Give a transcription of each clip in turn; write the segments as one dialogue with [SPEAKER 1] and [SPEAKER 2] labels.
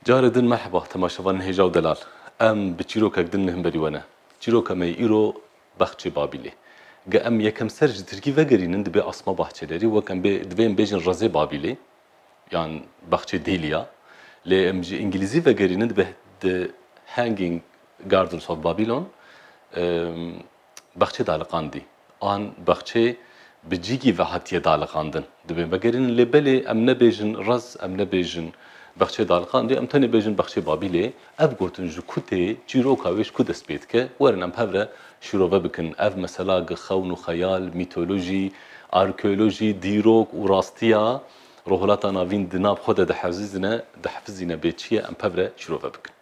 [SPEAKER 1] Carê din merheba temaşevanên hêja û delal. Em bi çîrokek din li himberî we ne. Çîroka me yê îro Bexçê Babîlê. Ge em yekemser ji tirkî vegerînin dibê Asma Bahçelerî wek em bê divê em bêjin Rezê Babîlê yan Bexçê Dêlîya. Lê em ji îngilîzî vegerînin dibê The Hanging Gardens of Babylon. Bexçê daliqandî an bexçê bi cîgî ve hatiye daliqandin dibê vegerînin lê belê em nebêjin raz em nebêjin bexçê daliqandî em tenê bêjin bexçê Babîlê. Ev gotin ji ku tê, çîroka wê ji ku dest pê dike? Werin em hev re şîrove bikin ev mesela gi xewn û xeyal, mîtolojî, arkeolojî, dîrok û rastiya Rojhilata Navîn di nav xwe de dihezizîne, dihifizîne bê çi ye em pev re şîrove bikin.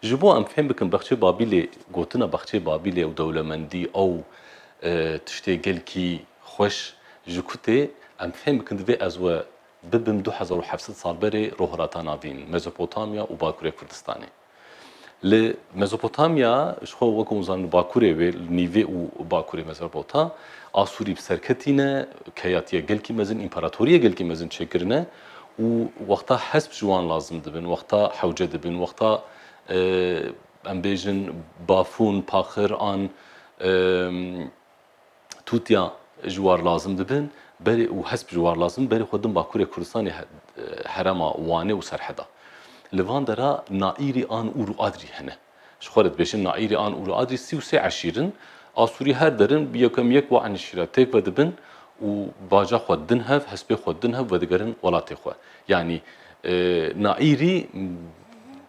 [SPEAKER 1] Ji bo em fêm bikin Baxçeyê Babîlê gotina Baxçeyê Babîlê û dewlemendî ew tiştê gelkî xweş ji ku tê em fêm bikin divê ez we bibim du hezar û heft sed sal berê rohilata navîn Mezopotamya û Bakurê Kurdistanê. Li Mezopotamya ji xwe wek hûn zanin li Bakurê wê li nîvê û Bakurê Mezerpota Asûrî bi ser ketîne, keyatiya gelkî mezin, împaratorîya gelkî mezin çêkirine. û wexta hesp ji wan lazim dibin, wexta hewce dibin, wexta em bêjin bafûn, paxir an tûtya ji war lazim dibin berê û hesp ji war lazim dibin berê xwe din Bakurê Kurdistanê herema Wanê û Serheda. Li van dera naîrî an ûr û adrî hene. Ji xwe re dibêjin Naîrê an Ûrû Adrî sî û sê eşîr in. Asûrî her derin bi yekem yek wan eşîr re têk vedibin û baca xwe didin hev, hespê xwe didin hev vedigerin welatê xwe. Yanî Naîrî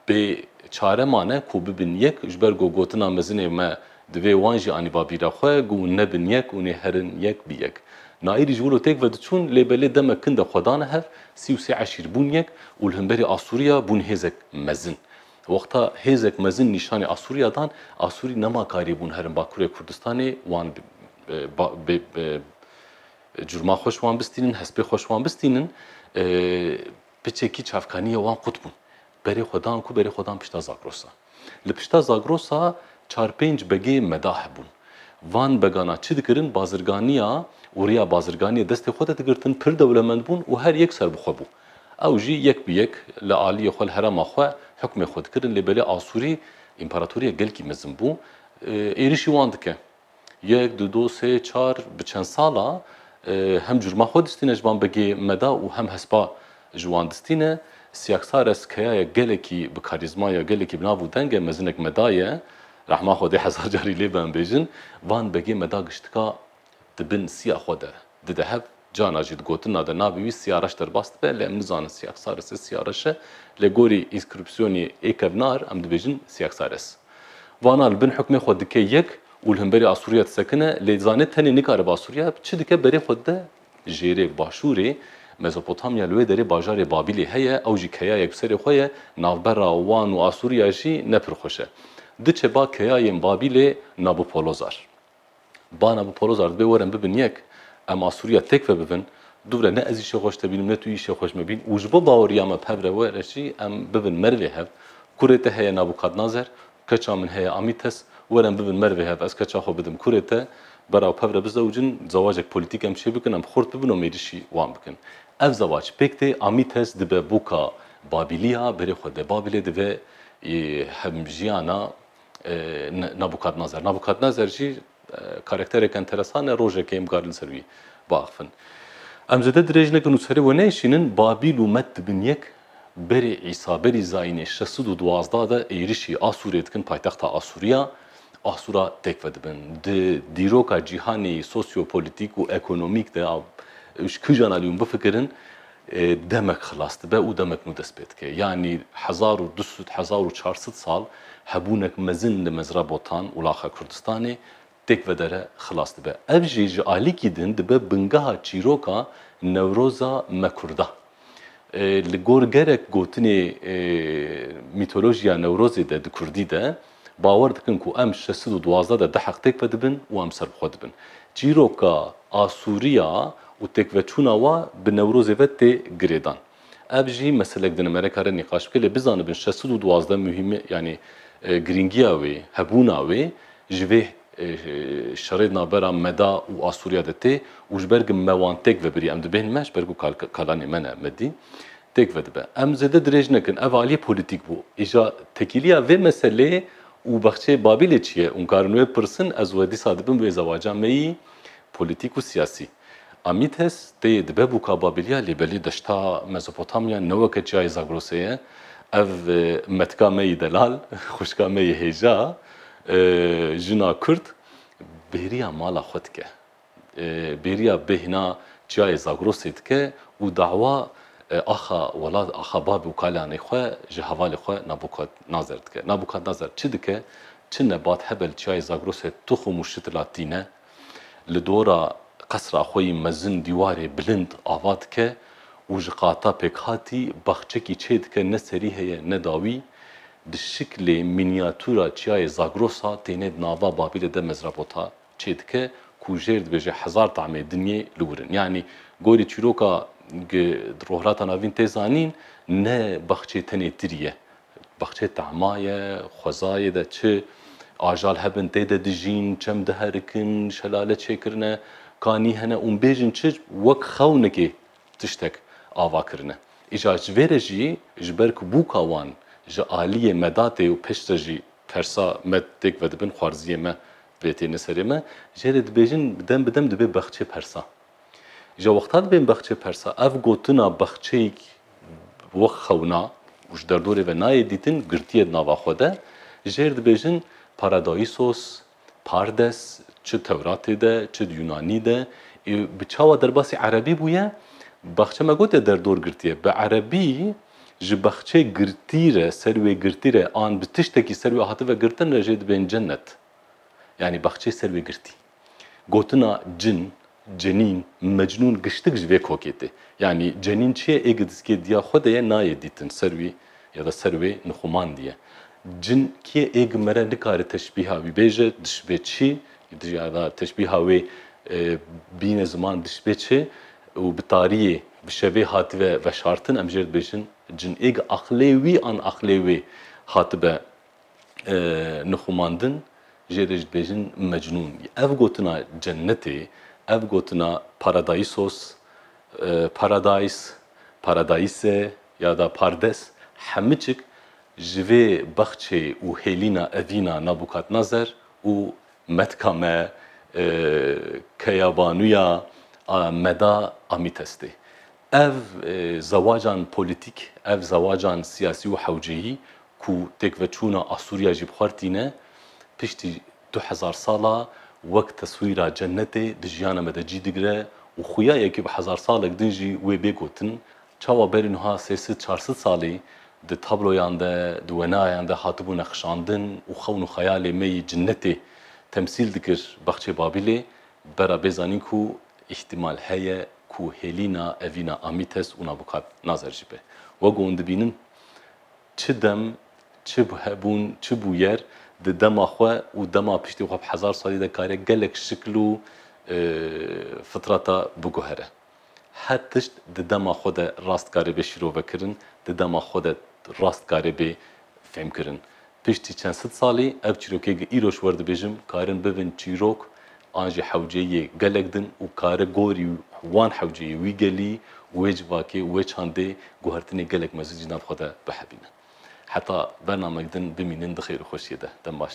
[SPEAKER 1] bê çare mane ku bibin yek ji ber ku gotina mezinê me divê wan jî anî babîra xwe ku hûn nebin yek û nê herin yek bi yek. Naîrî ji wilo têk vediçûn lê belê demek kin de xwe dane hev, sî û sê eşîr bûn yek û li himberî Asûrîya bûn hêzek mezin. Wexta hêzek mezin nîşanê Asûriya dan, Asûrî nema karî bûn herin Bakurê Kurdistanê wan curma xweş wan bistînin, hespê xweş wan bistînin, piçekî çavkanî ya wan qut bûn. Berê xwe dan ku berê xwe dan pişta Zagrosa. Li pişta Zagrosa çar pênc begê meda hebûn. Van begana çi dikirin bazirganîya û rêya bazirganîyê destê xwe de digirtin, pir dewlemend bûn û her yek serbixwe bû. Ew jî yek bi yek li aliyê xwe li herêma xwe hukmê xwe dikirin lê belê Asûrî împaratoriyek gelkî mezin bû êrişî wan dike. Yek, du, do, sê, çar bi çend sala hem curma xwe distîne ji van begê me de û hem hespa ji wan distîne. Siyaksares keyayek gelekî bi karîzma ye, gelekî bi nav û deng e, mezinek meda ye, rehma Xwedê hezar carî lê be em bêjin, van begê meda giştika Di bin siya xwe de dide hev, carna jî di gotina de navê wî Siya Reş derbas dibe, lê em nizanin Siyaxsares e, Siya Reş e, lê gorî înskrîpsiyonê ê kevnar em dibêjin Siyaxsares. Vana li bin hukmê xwe dike yek û li hemberî Asûriya disekine, lê dizane tenê nikaribe Asûriya çi dike berê xwe dide jêrê. Başûrê Mezopotamya li wê derê bajarê Babîlê heye, ew jî keyayek bi serê xwe ye, navbera wan û Asûriya jî ne pir xweş e. Diçe ba keyayên Babîlê Nabopolozar. Bana bi Polozar dibe werin bibin yek, em a Sûriya têk vebibin, dûvre ne ez îşê xweş te bînim ne tu îşê xweş me bîn û ji bo baweriya me pevre we re jî em bibin merivê hev. Kurê te heye Nabûkadnazer, keça min heye Amîtes, werin bibin merivê hev, ez keça xwe bidim kurê te, beraw pevre bizewicin, zewacek polîtîk em çê bikin, em xurt bibin û mêrişî wan bikin. Ev zewac pêk tê, Amîtes dibe bûka Babîlî ya berê xwe de, Babîlê dibe hemjiyana Nabûkadnezer. Nabûkadnezer jî karakterek enteresan e, rojekê em karin li ser wî biaxivin. Em zêde dirêj nekin û serê we nêşînin, Babîl û Med dibin yek, berê Îsa, berî Zayînê şeş sed û duwazdeh de êrişî Asûrê dikin, paytexta Asûriya, Asûra têk vedibin. Di dîroka cîhanê sosyopolîtîk û ekonomîk de, ji kijan alî hûn bifikirin, demek xilas dibe û demek nû dest pê dike. Yanî hezar û du sed, hezar û çar sed sal hebûnek mezin li mezra botan, wulaxa Kurdistanê têk vedere xilas dibe. Ev jî ji alîkî din dibe bingeha çîroka Newroza me Kurda. Li gor gerek gotinê mîtolojiya Newrozê de di kurdî de Bawer dikin ku em şeş sed û duwazdeh de diheq têk ve dibin û em ser bi xwe dibin. Çîroka asûriya û têkveçûna wan bi Newrozê ve tê girêdan. Ev jî meselek dine mere kare nîqaş bike lê bizanibin şeş sed û duwazdeh muhîmi yanî girîngiya wê, hebûna wê ji vê şerê di navbera meda û asûriya de tê û ji ber ku me wan têk vebirî em dibêhnin me ji ber ku kalanê me ne me dî Têk vedibe. Em zêde dirêj nekin. Ev aliyê polîtîk bû. Îja tekîliya vê meseleyê û bexçeyê Babîlê çi ye? Hûn karin wê pirsin, ez wê dîsa dibim wê zewaca me yî polîtîk û siyasî. Amîtes tê dibe bûka Babîliya lê belê deşta Mezopotamya ne weke çiyayê Zagrosê ye. Ev metika me yî delal, xwişka me yî hêja, jina kurd bêriya mala xwe dike. bêriya bêhna Çiyayê Zagrosê dike û dawa axa welat axa Bab û Kalyanê xwe ji hevalê xwe Nabûkadnazer dike. Nabûkadnazer çi dike? Çi nebat hebe li Çiyayê Zagrosê tuxum û şitila tîne? Li dora qesra xwe yî mezin dîwarê bilind ava dike û ji qata pêkhatî baxçekî çê dike ne serî heye ne dawî. Di şiklê mînîyatûra Çiyayê Zagrosa têne di nava Babîlê de mezrabota çê dike ku jêr dibêje hezar tamê dinyê li wir in. Yanî gorî çîroka gi di Rohilata Navîn tê zanîn ne baxçê tenê tirî ye. Baxçê tema ye, xwezayê de çi ajal hebin tê de dijîn, çem diherikin, şelale çêkirine, kanî hene û bêjin çi wek xewnikê tiştek ava kirine. Îcar ji vê re jî ji ber ku bûka wan ji aliyê medatê û piştre jî tersa me têk vedibin xwarziyê me Lê têne serê me, jê re dibêjin dem bi dem dibê bexçê persa. Ji wexta dibên bexçê persa, ev gotina bexçeyîk wek xewna û ji derdorê ve nayê dîtin girtiye di nava xwe de, jê re dibêjin Paradaisos, Pardes, çi Tewratê de, çi di Yunanî de, ê bi çawa derbasî erebî bûye, bexçe me gotiye derdor girtiye, bi erebî Ji baxçê girtî re ser wê girtî re an bi tiştekî ser wê hative girtin re jê dibên cenet. Yanî baxçê ser wê girtî. Gotina cin, cenîn, mecnûn giştik ji vê kokê tê. Yanî cenîn çi ye ê gidiskê diya xwe de ye nayê dîtin ser wî ya da ser wê nixumandî ye. Cin kî ye ê gi mere nikare teşbîha wî bêje dişibe çi Di jî hevha teşbîha wê bîne ziman dişibê çi û bi tariyê, bi şevê hatibe veşartin, em jê dibêjin cinêk aqilê wî an aqilê wê hatibe nixumandin, jê de jî dibêjin mecnûn. Ev gotina cennetê, ev gotina paradaisos, paradise, paradise ya da pardes hemiçik ji vê bexçê û hêlîna evîna Nabûkadnezer û metka me keyabanuya meda amît estê. Ev zewacan polîtîk, ev zewacan siyasî û hewceyî ku têkveçûna Asûriya jî bi xwe re tîne, piştî du hezar sal a wek teswîra cennetê di jiyana me de cî digire û xuya yekî bi hezar salek din jî wê bê gotin, Çawa berî nuha sê sid çar sid salî di tabloyan de, di wenayan de hatibû neqişandin û xewn û xeyalê me yî cinetê temsîl dikir Baxçeyê Babîlê, bera bê zanîn ku îhtîmal heye ku hêlîna evîna Amîtes û Nabûkadnazar jî be. Wek wan dibînin çi dem, çi hebûn, çi bûyer di dema xwe û dema piştî xwe bi hezar salî de kare gelek şikil û fitrata biguhere. Her tişt di dema xwe de rast dikare bê şîrovekirin, di dema xwe de rast dikare bê fêmkirin. Piştî çend sed salî ev çîrokê gi îroj werdibêjim karin bibin çîrok an jî hewceyê gelek din û kare gorî wan hewceyê wî gelî û wê civakê û wê çandê guhertinê gelek mezin jî nav xwe de bihebînin. Heta bernamek din bimînin di xêr û xweşiyê de. Dem baş.